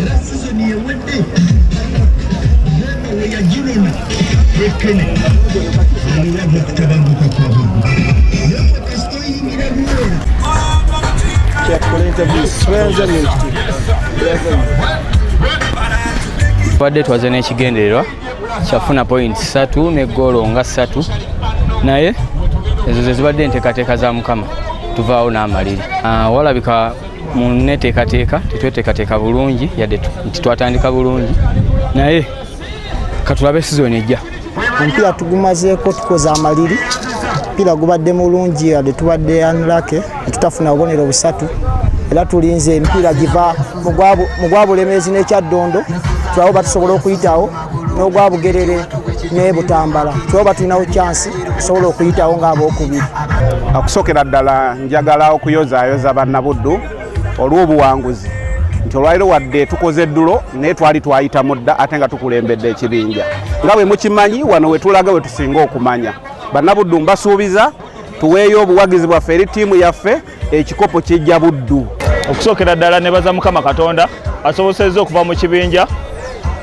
era sizoni ewedde yagirona ekene aliwo mukutabanguka kwabwe tubadde twaze n'ekigendererwa kyafuna point satu ne goolo nga satu naye ezo zezibadde enteekateeka za mukama tuvaawo n'amaliri ah, walabika mu neteekateeka tetweteekateeka bulungi yadde nti twatandika bulungi naye katulabe sizoni ejja omupiira tugumazeeko tukoze amaliri omupiira gubadde mulungi yadde tubadde anlake netutafuna bubonero busatu era tulinze emipiira giva mu gwa bulemeezi n'ekyaddondo tulabo batusobola okuyitawo n'ogwa bugerere ne butambala kyoba tulinawo kyansi osobola okuyitawo ng'abookubiri okusookera ddala njagala okuyozaayoza bannabuddu olw'obuwanguzi nti olwaliro wadde tukoze eddulo naye twali twayita mudda ate nga tukulembedde ekibinja nga bwe mukimanyi wano we tulaga we tusinga okumanya bannabuddu mbasuubiza tuweeyo obuwagizi bwaffe eri ttiimu yaffe ekikopo kyejja buddu okusookera ddala nebaza mukama katonda asobosezza okuva mu kibinja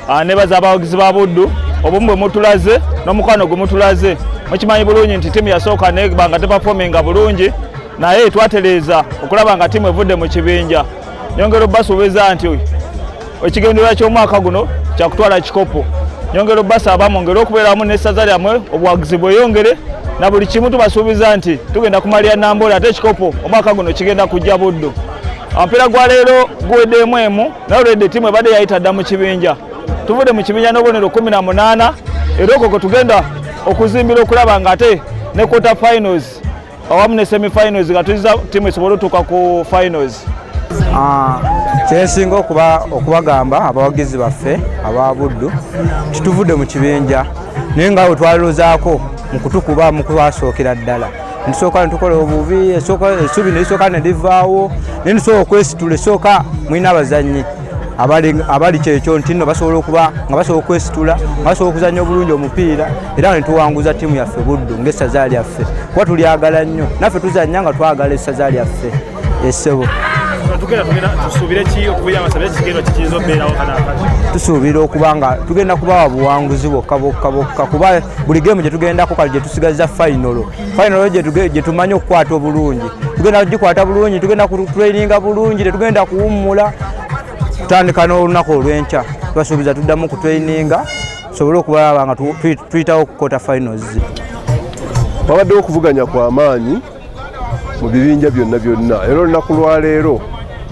ah, nebaza abawagizi ba buddu obumu bwe mutulaze n'omukwano gwe mutulaze mukimanyi bulungi nti tiimu yasooka nebanga tepafominga bulungi naye twateleeza okulaba nga tiimu evudde mu kibinja nyongera obasuubiza nti ekigendererwa ky'omwaka guno kyakutwala kikopo nyongera obasaba mwongere okubeeramu n'essaza lyammwe obuwagizi bweyongere na buli kimu tubasuubiza nti tugenda kumalira nambola ate ekikopo omwaka guno kigenda kujja buddu omupiira gwa leero guweddemu emu naye olwedde ttiimu ebadde yayita dda mu kibinja tuvudde mu kibinja n'obubonero kumi na munaana era okwo kwe tugenda okuzimbira okulaba nga ate ne quarter finals awamu ne semi finals nga tuyiza tiimu esobole otuuka ku finals ah, kyensinga okuba okubagamba abawagizi baffe aba buddu tituvudde mu kibinja naye nga we twalilozaako mu kutukuba mu kubasookera ddala nisooka netukola obubi essuubi nelisooka ne livaawo naye nisooka okwesitula esooka mulina abazannyi abali kyekyo nti nno basobola okuba nga basobola okwesitula nga basobola okuzanya obulungi omupiira era nga netuwanguza ttiimu yaffe buddu ngaessaza lyaffe kuba tulyagala nnyo naffe tuzanya nga twagala essaza lyaffe esebo tusuubira okuba nga tugenda kubawa buwanguzi bwokka bwokka bwokka kuba buli gemu gyetugendako kale gyetusigaza fayinolo fayinolo gye tumanyi okukwata obulungi tugenda kugikwata bulungi tugenda kutraininga bulungi tetugenda kuwummula tutandika n'olunaku olw'enkya tubasuubiza tuddamu kutraininga tusobole okubalaba nga tuyitawo okukota finals wabaddewo okuvuganya kwa maanyi mu bibinja byonna byonna era olunaku lwaleero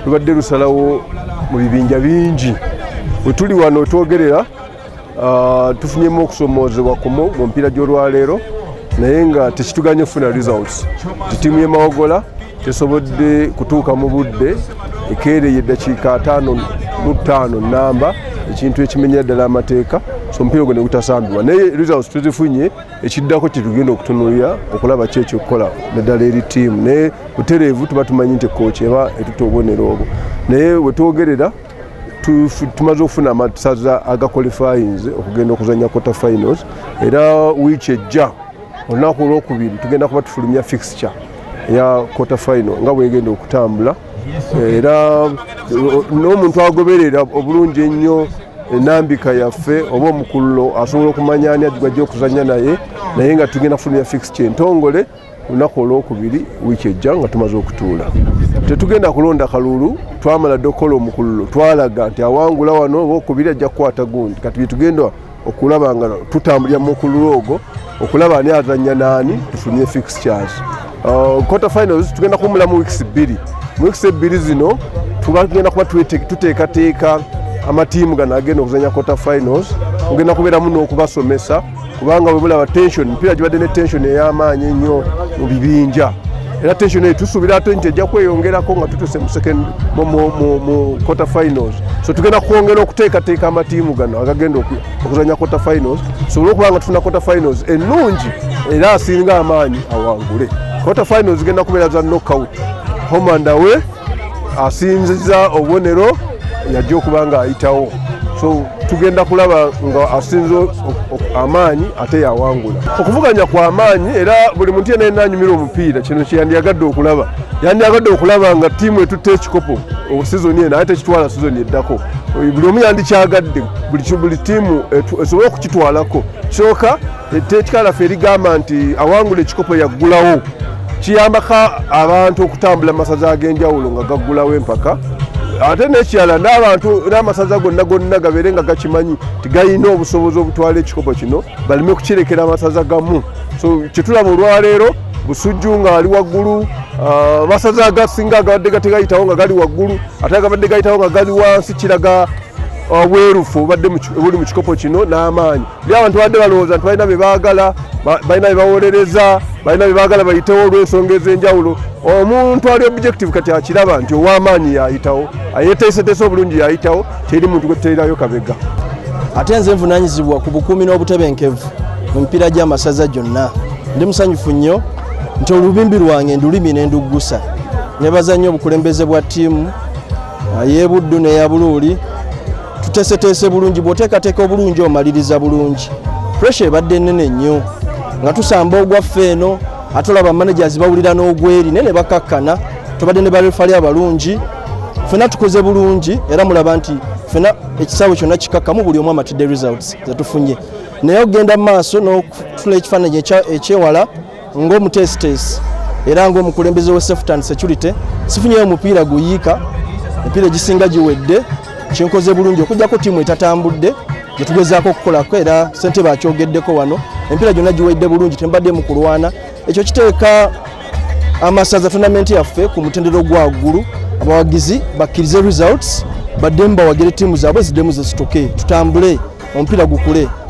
lubadde lusalawo mu bibinja bingi wetuli wano twogerera Uh, tufunyemu okusomoozebwa kumu mu mpiira gy'olwaleero naye nga tekituganye okufuna results nti tiimu y'emawogola tesobodde kutuuka mu budde ekeereye eddakiika ataano mu ttaano nnamba ekintu ekimenyera ddala amateeka so omupiira ogwo ne gutasambibwa naye results tuzifunye ekiddako kyetugenda okutunulira okulaba ki ekyokukola naddala eri tiimu naye butereevu tuba tumanyi nti kooki eba etuta obubonero obwo naye wetwogerera tumaze okufuna amasaza agakolifayinze okugenda okuzanya quarter finals era wiiki ejja olunaku olwokubiri tugenda kuba tufulumya fixture eya quarter final nga bwegenda okutambula era n'omuntu agoberera obulungi ennyo enambika yaffe oba omukululo asobola okumanya ani ajja okuzanya naye naye nga tugenda kufulumya fixture entongole lunaku olwokubiri wiiki ejja nga tumaze okutuula tetugenda kulonda kalulu twamala dde okukola omukululo twalaga nti awangula wano oba okubiri ajja kukwata gundi kati byetugenda okulaba nga tutambulira mu mukululo ogwo okulaba ani azanya naani tufunye fix charge uh, quarter finals tugenda kuwumula mu weeks bbiri mu weeks ebbiri zino tugenda kuba tuteekateeka amatiimu gano agenda okuzanya quarter finals ogenda kubeeramu n'okubasomesa kubanga bwe mulaba tension mpiira gibadde ne tension ey'amaanyi ennyo mu bibinja era tension eyo tusuubira ate nti ejja kweyongerako nga tutuse mu quarter finals so tugenda kwongera okuteekateeka amatiimu gano agagenda okuzanya quarter finals tusobole okuba nga tufuna quarter finals ennungi era asinga amaanyi awangule quarter finals zigenda kubeera za knockout homandawe asinziza obubonero yajja okuba nga ayitawo so tugenda kulaba nga asinze amaanyi ate yawangula okuvuganya kwa maanyi era buli muntu yena yena anyumira omupiira kino kyeyandyagadde okulaba yandyagadde okulaba nga tiimu etutte ekikopo sizoni eno ate kitwala sizoni eddako buli omu yandikyagadde buli tiimu esobole okukitwalako kyoka etteeka laffe erigamba nti awangula ekikopo yaggulawo kiyambako abantu okutambula masaza ag'enjawulo nga gaggulawo empaka ate nekirala n'abantu n'amasaza gonna gonna gabeere nga gakimanyi nti galina obusobozi obutwala ekikopo kino baleme kukirekera amasaza gamu so kyetulaba olwaleero busujju ng'ali waggulu ah, amasaza agasinga agabadde gategayitawo nga gali waggulu ate agabadde gayitawo nga gali wansi kiraga obwerufu ah, obadde buli mu kikopo kino n'amaanyi byabantu badde balowooza nti balina bye baagala balina bye bawolereza balina bye baagala bayitewo olw'ensonga ez'enjawulo omuntu ali objective kati akiraba nti ow'amaanyi yaayitawo ayeteeseteese obulungi yaayitawo teri muntu gwe tuteerayo kabega ate nze nvunanyizibwa ku bukuumi n'obutebenkevu mu mipiira gy'amasaza gyonna ndi musanyufu nnyo nti olubimbi lwange ndulimi ne nduggusa nebaza nnyo obukulembeze bwa ttiimu ey'ebuddu neya buluuli tuteeseteese bulungi bw'oteekateeka obulungi omaliriza bulungi puresha ebadde nnene nnyo nga tusamba ogwaffe eno ate olaba managers bawulira n'ogweri naye ne bakakkana tubadde ne barefali abalungi fena tukoze bulungi era mulaba nti fena ekisaawe kyonna kikakkamu buli omu amatidde results zetufunye naye okugenda mu maaso n'okutula ekifaananyi ekyewala Ng'omuteesiteesi era ng'omukulembeze we safety and security sifunyeyo omupiira guyiika emipiira egisinga giwedde kyenkoze bulungi okujjako tiimu etatambudde gyetugezaako okukolako era sente bakyogeddeko wano empiira gyonna giwedde bulungi tembadde mu kulwana ekyo kiteeka amasaza tonamenti yaffe ku mutendero gwaggulu abawagizi bakkirize results baddemu bawagire tiimu zaabwe ziddemu zesituke tutambule omupiira gukule